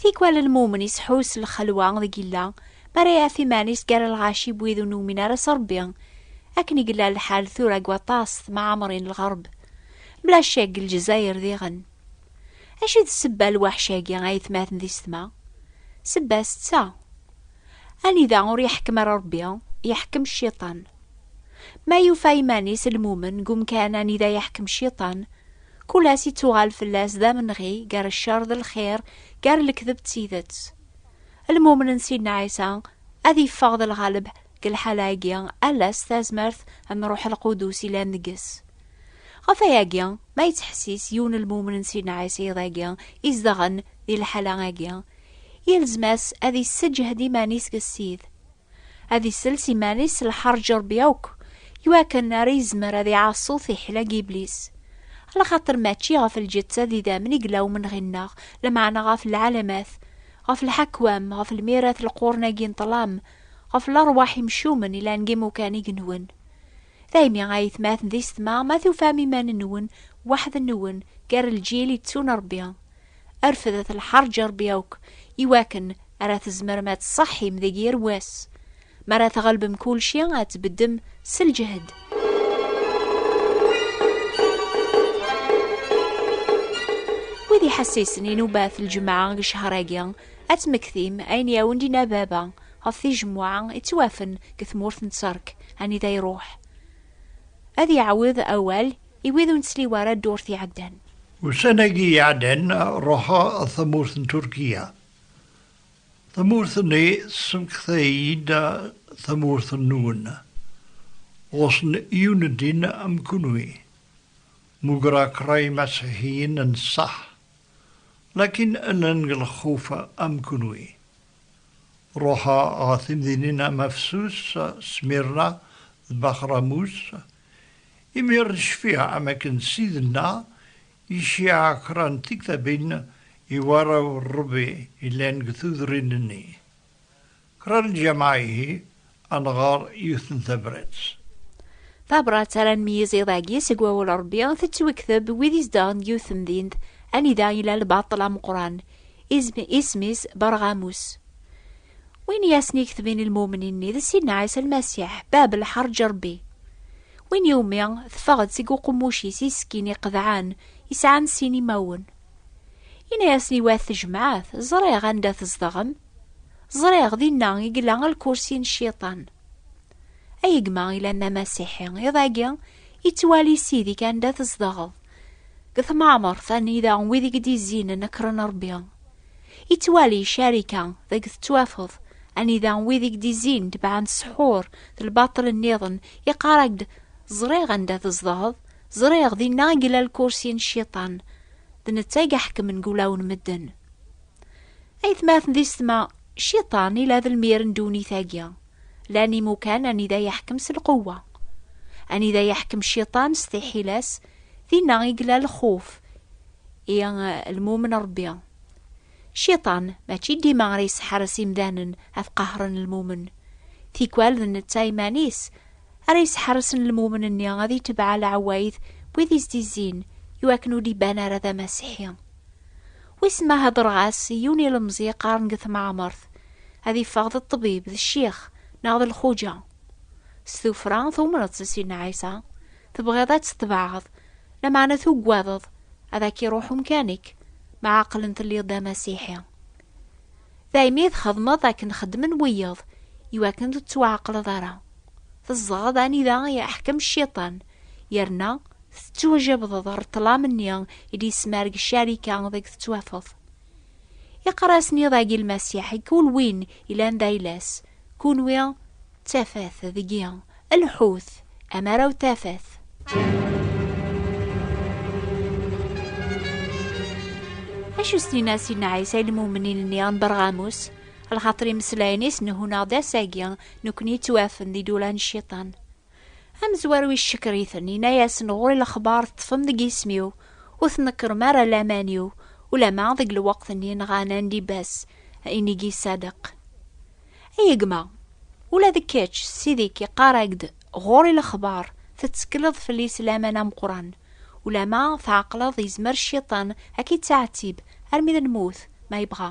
Tikwal lmumen iseḥḥu s lxelwa deg yella, mi ara iɛef iman-is gar lɣaci n wid ur numin ara s Rebbi. Akken i yella lḥal tura deg waṭas temɛamrin n lɣerb, mla ccek deg Lezzayer diɣen. Acu i d ssebba n lweḥc-agi ayetmaten di setma? Ssebba-s d ta, anida ur iḥekkem ara Rebbi, iḥekkem cciṭan. Ma yufa iman-is lmumen deg umkan anida iḥekkem cciṭan, Kul ass ittuɣal fell-as d amenɣi gar ccer d lxir, gar lekdeb d tidet. Lmumen n Sidna Ɛisa ad yeffeɣ d lɣaleb deg lḥala-agi ala s tazmert n Ṛuḥ Lqudus yellan deg-s. Ɣef wayagi, ma yettḥessis yiwen lmumen n Sidna Ɛisa iḍ-agi izedɣen di lḥala-agi, yelzem-as ad yesseǧhed iman-is deg Ssid. ad isels iman-is s lḥerǧ Ṛebbi akk, i wakken ara izmer ad iɛaṣu tiḥila n yiblis. Lxaṭer mačči ɣef lǧetta d idammen i yella umenɣi-nneɣ, lameɛna ɣef lɛalamat, ɣef lḥakwam, ɣef lmirat leqquren-agi n ṭṭlam, ɣef leṛwaḥ imcumen yellan deg imukan igenwen. Daymi, ay atmaten d isetma, ma tufam iman-nwen weḥd-nwen gar lǧil itettun Ṛebbi, rfdet lḥerǧ i Ṛebbi akk, i wakken ara tzemrem ad tṣeḥḥim deg yir wass. Mi ara tɣelbem kulci, ad tbeddem s lǧehd. Wid iḥessisen inubat lǧemɛa deg ccehṛ-agi, ad tmektim ayen i awen-d-inna baba ɣef tijemmuɛa ittwafen deg tmurt n Tterk, anida iṛuḥ ad iɛawed awal i wid ur nettliwi ara ddurt iɛeddan. Ussan-agi iɛeddan ruḥeɣ ɣer tamurt n Turkiya. Tamurt-nni tessemekta-iyi-d tamurt-nwen. Ɣusen yiwen n ddin am kunwi. Mugreɣ kra imasiḥiyen n ṣṣeḥ, lakin llan deg lexxuf am kunwi. Ruḥeɣ ɣer timdinin am Afsus, Smirna d Bax Ramus Imir necfiɛ am akken Ssid-nneɣ iciɛa kra n tiktabin i warraw n Rebbi yellan deg tudrin-nni. Kra n lǧameɛ ihi, ad nɣer yiwet n tabrat. Tabrat ara nmeyyez iḍ agi seg wawal n Rebbi tettwekteb wid izedɣen deg yiwet temdint anida yella lbaṭel ameqqran, isem-is Berɣamus. Win i asen-iketbin i lmumnin-nni d Sidna Ɛisa Lmasiḥ, bab lḥerǧ n Rebbi. Win iwumi teffeɣ-d seg uqemmuc-is iskin iqedɛen, isɛan sin imawen. Yenna-yasen i wat tejmaɛt, Ẓriɣ anda tzedɣem. Ẓriɣ dinna i yella lkursi n Cciṭan. Ay gma ilan d Amasiḥi, iḍ-agi yettwali Ssid-ik anda tzedɣeḍ, deg temɛemṛt anida wid i k-d-izzin nekṛen Rebbi. Yettwali ccarika deg tettwafeḍ anida wid i k-d-izzin tebɛen ssḥur d lbaṭel nniḍen, iqqar-ak-d ẓriɣ anda tzedɣeḍ, ẓriɣ dinna i yella lkursi n cciṭan, d netta i iḥekmen deg ulaw n medden. Aytmaten di setma, cciṭan ila d lmir n ddunit-agi, llan imukan anida yeḥkem s lqewwa. Anida yeḥkem cciṭan s tiḥila-s, Dinna i yella lxuf i lmumen Rebbi. Cciṭan mačči dima ara yesḥares imdanen ad qahren lmumen. Tikwal d netta iman-is ara yesḥarsen lmumen-nni ad itebɛa leɛwayed n wid i s-d-izzin i wakken ur d-iban ara d amasiḥi. Wissen ma hedreɣ-as i yiwen ilemẓi yeqqaren deg tmeɛmert ad iffeɣ d ṭṭbib, d ccix neɣ d lxuǧa. S tufra tumneḍ-tt a Sidna Ɛisa? Tebɣiḍ ad tetbeɛeḍ, lameɛna tuggadeḍ ad ak-iruḥ umkan-ik, ma aqlen telliḍ d amasiḥi. Daymi i txedmeḍ akken xeddmen wiyeḍ, iwakken ur tettwaɛeqleḍ ara. Tezdeɣeḍ anida i iḥkem cciṭan, yerna tettwajabdeḍ ɣer ṭṭlam-nni i d-yesmerg ccarika deg tettwafeḍ. Iqrasen iḍ-agi lmasiḥ i kul win ilan d ayla-s, kunwi d tafat deg-i, lḥut amaraw d tafat. Acu s-nina Sidna Ɛisa i lmumnin-nni n Berɣamus? Lxaṭer imeslayen i s-nhun-aɣ-d ass-agi, nekkni yettwafen d idurar n cciṭan. Amezwaru yeccekker-iten, yenna-yasen ɣur-i lexbar teṭṭfem deg yisem-iw, ur tnekkrem ara laman-iw, ulama deg lweqt-nni nɣan Andibas, inigi Sadeq. Ay gma, ula d kečč, ssid-ik iqqar-ak-d ɣur-i lexbar, tettekleḍ fell-i s laman ameqqran, ulama tɛeqleḍ yezmer cciṭan ad k-ittɛettib armi d lmut ma yebɣa.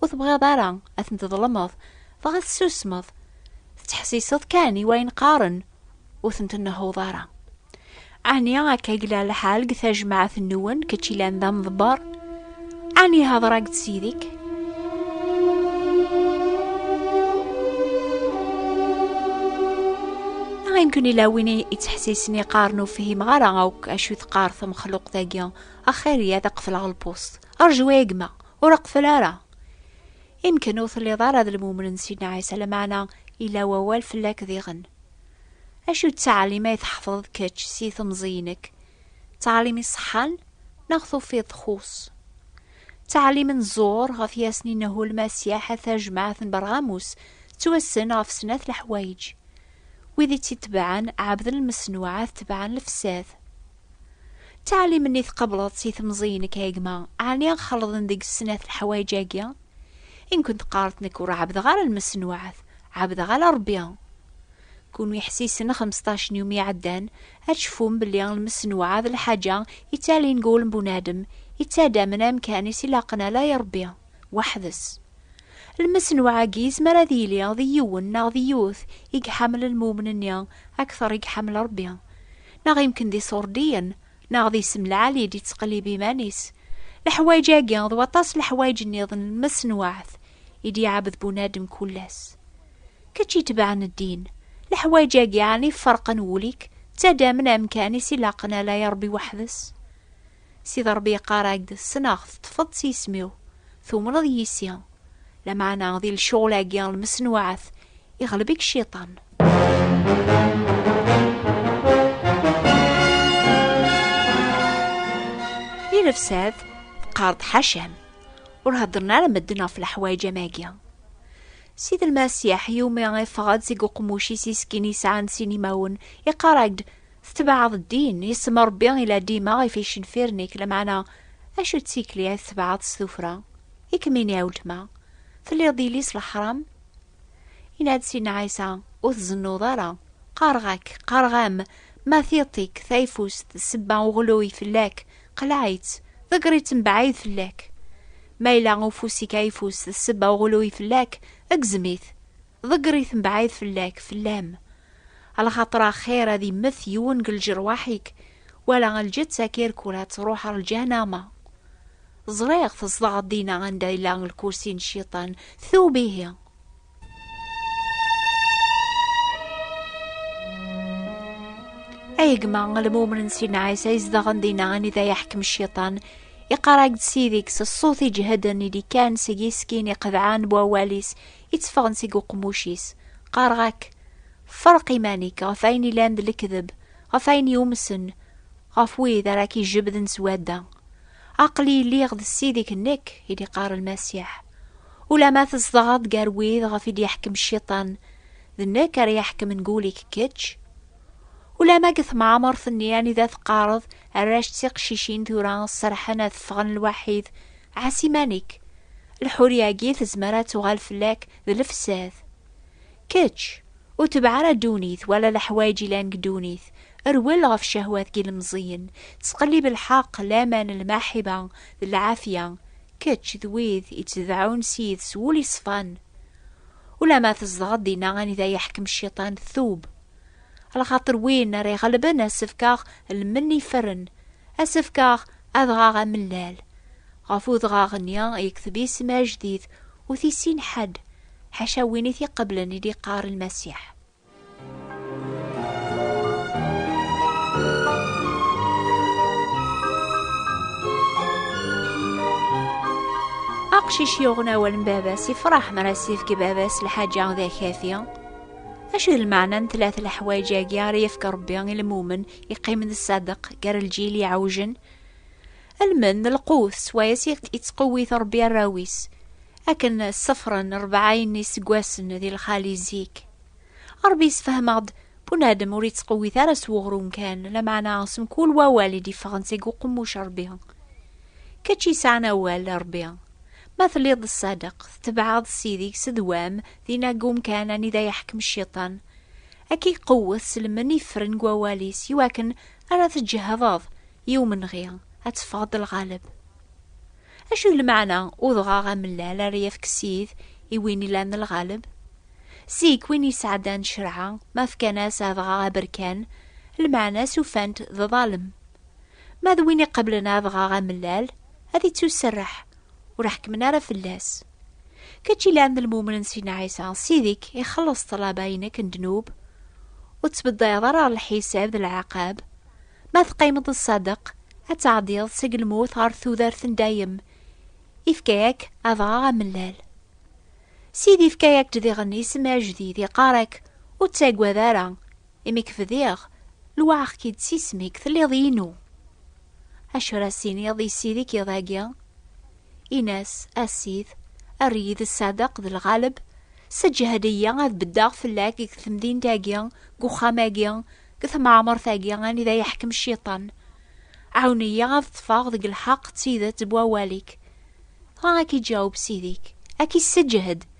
Ur tebɣiḍ ara ad ten-tḍelmeḍ, dɣa tessusmeḍ. Tettḥessiseḍ kan i wayen qqaren, ur ten-tnehhuḍ ara. Ɛni akka i yella lḥal deg tajmaɛt-nwen, kečč ilan d amḍebber? Ɛni hedreɣ-d s yid-ik? Ayen-ken ila win yettḥessisen iqqaren ur fhimeɣ ara akk acu teqqar temxluqt-agi, axir-iyi ad qefleɣ lpust. Rju a gma, Ur aqfel ara. Imken ur telliḍ ara d lmumen n Sidna Ɛisa, lameɛna ila wawal fell-ak diɣen. Acu d ttaɛlim ay tḥefḍeḍ kečč si temẓi-inek? D ttaɛlim iṣeḥḥan neɣ tufiḍ txuṣṣ? D ttaɛlim n ẓẓur ɣef yasni n Ahu Lmasiḥ a tajmaɛt n Berɣamus tettwassen ɣef snat leḥwayeǧ. Wid i tt-itebɛen ɛebden lmeṣnuɛat tebɛen lefsad. D taɛlimin i tqableḍ si temẓiyin-ik a gma, ɛni xelḍen deg-s snat leḥwayeǧ-agi? I nkun teqqareḍ nekk ur ɛabdeɣ ara lmesenwaɛt, ɛabdeɣ ala Rebbi. Kunwi ḥsisen xemseṭṭac n yumi iɛeddan, ad tcefum belli lmesenwaɛ d lḥaǧa ittalin deg wul n bunadem, ittadamen amkan-is ilaqen ala i Rebbi, weḥd-s. Lmesenwaɛ-agi yezmer ad yili d yiwen neɣ d yiwet i iḥamel lmumn-nni akteṛ i iḥamel Rebbi. neɣ imken d iṣurdiyen, neɣ d isem lɛali d-yettqellib iman-is. Leḥwayeǧ-agi d waṭas leḥwayeǧ nniḍen n lmesnuɛt i d-iɛabed bunadem kull ass. Kečč itebɛen ddin, leḥwayeǧ-agi ɛni ferqen wul-ik, ttadamen amkan i s-ilaqen ala i Ṛebbi weḥd-s? Sidi Ṛebbi yeqqar-ak-d, Ssneɣ-t, teṭṭfeḍ-d s yisem-iw, tumneḍ yis-i. Lameɛna di lecɣal-agi n lmesnuɛat, iɣleb-ik Cciṭan. Di lebsat, teqqar-d ḥaca-m, ur heddren ara medden ɣef leḥwayeǧ am agi. Sidi Lmasiḥ, yumi iffeɣ-d seg uqemmuc-is iskin yesɛan sin imawen, iqqar-ak-d, Tetbeɛɛeḍ ddin, yessemma Rebbi i la dima i t-icenfiren-ik, lameɛna acu d tikli ay tetbeɛɛeḍ s tuffra? I kem-ini a weltma, telliḍ d yelli-s leḥram? Yenna-d Sidna Ɛisa, Ur tzennuḍ ara. Qqareɣ-ak, qqareɣ-am, ma tiṭ-ik, tayfust, d ssebba uɣluy fell-ak, qleɛ-itt, ḍegger-itt mebɛid fell-ak. Ma yella ufus-ik ayfus d ssebba uɣluy fell-ak, gzem-it, ḍegger-it mebɛid fell-ak, fell-am. Ala xaṭer axir ad immet yiwen deg lǧerwaḥ-ik, wala lǧett akirkul ad truḥ ɣer lǧahnama. Ẓriɣ tzedɣeḍ dinna anda yella lkursi n cciṭan, tub ihi! Ay gma lmumen n Sidna Ɛisa izedɣen dinna anida yeḥkem cciṭan, iqarag-d Sidi-k s ṣṣut iǧehden i d-ikkan seg iskin iqedɛan n wawal-is, i tteffɣen seg uqemmuc-is. Qqareɣ-ak, ferreq iman-ik ɣef ayen ilan d lekdeb, ɣef ayen yumsen, ɣef wid ara k-ijebden s wadda. Aql-i lliɣ d Ssid-ik nekk, i d-iqqar Lmasiḥ. Ulamma tzedɣeḍ gar wid ɣef i d-yeḥkem Cciṭan, d nekk ara iḥekmen gul-ik kečč. Ulamma deg temɛamert-nni anida teqqareḍ Arrac d tiqcicin tura serḥen ad ffɣen lwaḥid, ɛas iman-ik, lḥuriya-agi tezmer ad tuɣal fell-ak d lefsad. Kečč, ur tebɛ ara ddunit wala leḥwayeǧ ilan deg ddunit, rwel ɣef cehwat n yilemẓiyen, ttqellib lḥeqq, laman, lmaḥiba d lɛafya, kečč d wid ittdeɛɛun s yid s wul iṣfan. Ulamma tzedɣeḍ dinna anida yeḥkem cciṭan, tub. Lxaṭer win ara iɣelben ad s-fkeɣ lmenni iferren, ad s-fkeɣ adɣaɣ amellal. Ɣef udɣaɣ-nni yekteb isem ajdid, ur t-issin ḥedd, ḥaca win i t-iqeblen i d-iqqar Lmasiḥ. Aqcic yuɣen awal n baba-s, ifraḥ mi ara s-ifk baba-s lḥaǧa d akafi. Acu d lmeɛna n tlat leḥwayeǧ-agi ara yefk Ṛebbi i lmumen yeqqimen d ṣṣadeq gar lǧil yeɛwjen? Almen d lqut s wayes i yettqewwit Ṛebbi arraw-is, akken ṣṣefren ṛebɛayen n yiseggasen di lxali zik. Ṛebbi yessefhem-aɣ-d bunadem ur yettqewwit ara s weɣrum kan, lameɛna s mkul wawal i d-iffɣen seg uqemmuc n Ṛebbi. Kečč yesɛan awal, a Ṛebbi! Ma telliḍ d ṣṣadeq, tetbeɛeḍ Ssid-ik s ddwa-m, dinna deg umkan anida yeḥkem Cciṭan. Ad k-iqewwet s lmen ifren n wawal-is, i wakken ara tǧehdeḍ i umenɣi, ad teffɣeḍ d lɣaleb. Acu i d lmeɛna udɣaɣ amellal ara yefk Ssid i win ilan lɣaleb? Zik, win yesɛeddan ccerɛa, ma fkan-as adɣaɣ aberkan, lmeɛna-s ufan-t d ḍalem. Ma d win iqeblen adɣaɣ amellal, ad ittuserreḥ, ur ḥekkmen ara fell-as. Kečč ilan d lmumnen s Sidna Ɛisa, Ssid-ik ixelleṣ ṭṭlaba-inek n ddnub, ur ttbeddayeḍ ara ɣer lḥisab d lɛaqab. Ma teqqimeḍ ṣṣadeq, ad tɛeddiḍ seg lmut ɣer tudert n dayem. Ifka-ak adɣaɣ amellal. Ssid ifka-ak-d diɣen isem ajdid, iqqar-ak, ur ttaggad ara, Imi k-bdiɣ, lewɛeɣ-k-id s isem-ik, telliḍ inu. Acu ara as-iniḍ i Ssid i k-iḍagi? Ini-as, A Ssid, err-iyi d Ṣṣadeq d Lɣaleb, sseǧhed-iyi ad beddeɣ fell-ak deg temdint-agi, deg uxxam-agi, deg temɛemṛt-agi anida yeḥkem Cciṭan. Ɛawen-iyi ad ṭṭfeɣ deg lḥeqq d tidet n wawal-ik. Dɣa a k-iǧaweb Ssid-ik, a k-isseǧhed.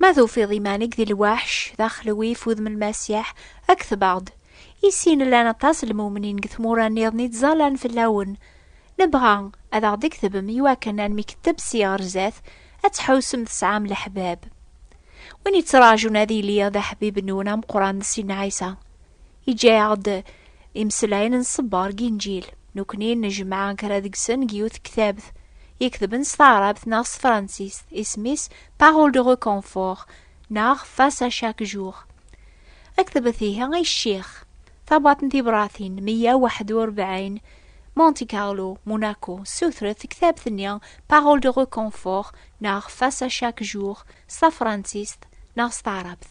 Ma tufiḍ iman-ik di lwaḥc, d axelwif udem n Lmasiḥ, kteb-aɣ-d. I sin llan aṭas n lmumnin deg tmura nniḍen i ttẓallan fell-awen. Nebɣa ad aɣ-d-ktebem i wakken ad nemketteb si ɣer zdat, ad tḥewsem tesɛam leḥbab. Win yettraǧun ad yili d aḥbib-nwen ameqqran d Ssin Ɛisa. Iǧǧa-aɣ-d imeslayen n ṣṣber deg Inǧil. Nekkni nejmeɛ kra deg-sen deg yiwet ktabt iketben s taɛrabt neɣ s tefransist, isem-is Parole de reconfort neɣ Face à chaque jour. Aktebet ihi ay ccix. Tabwaḍt n tibṛatin meyya waḥed u rebɛin, Monte Carlo, Monaco, ssutret tektabt-nni Parole de reconfort neɣ Face à chaque jour s tafransist neɣ s taɛrabt.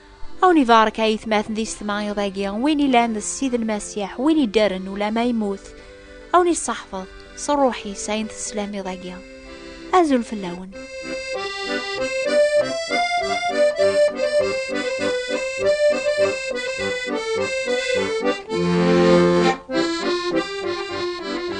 Awen ibarek ay tmaten di setmayiḍ agi win ilan d ssid n Masiḥ win iddaren ulama yemmut awen isseḥfeḍ s ṛṛuḥ-is ayen teslamiḍ agi azul fell-awen Thank you.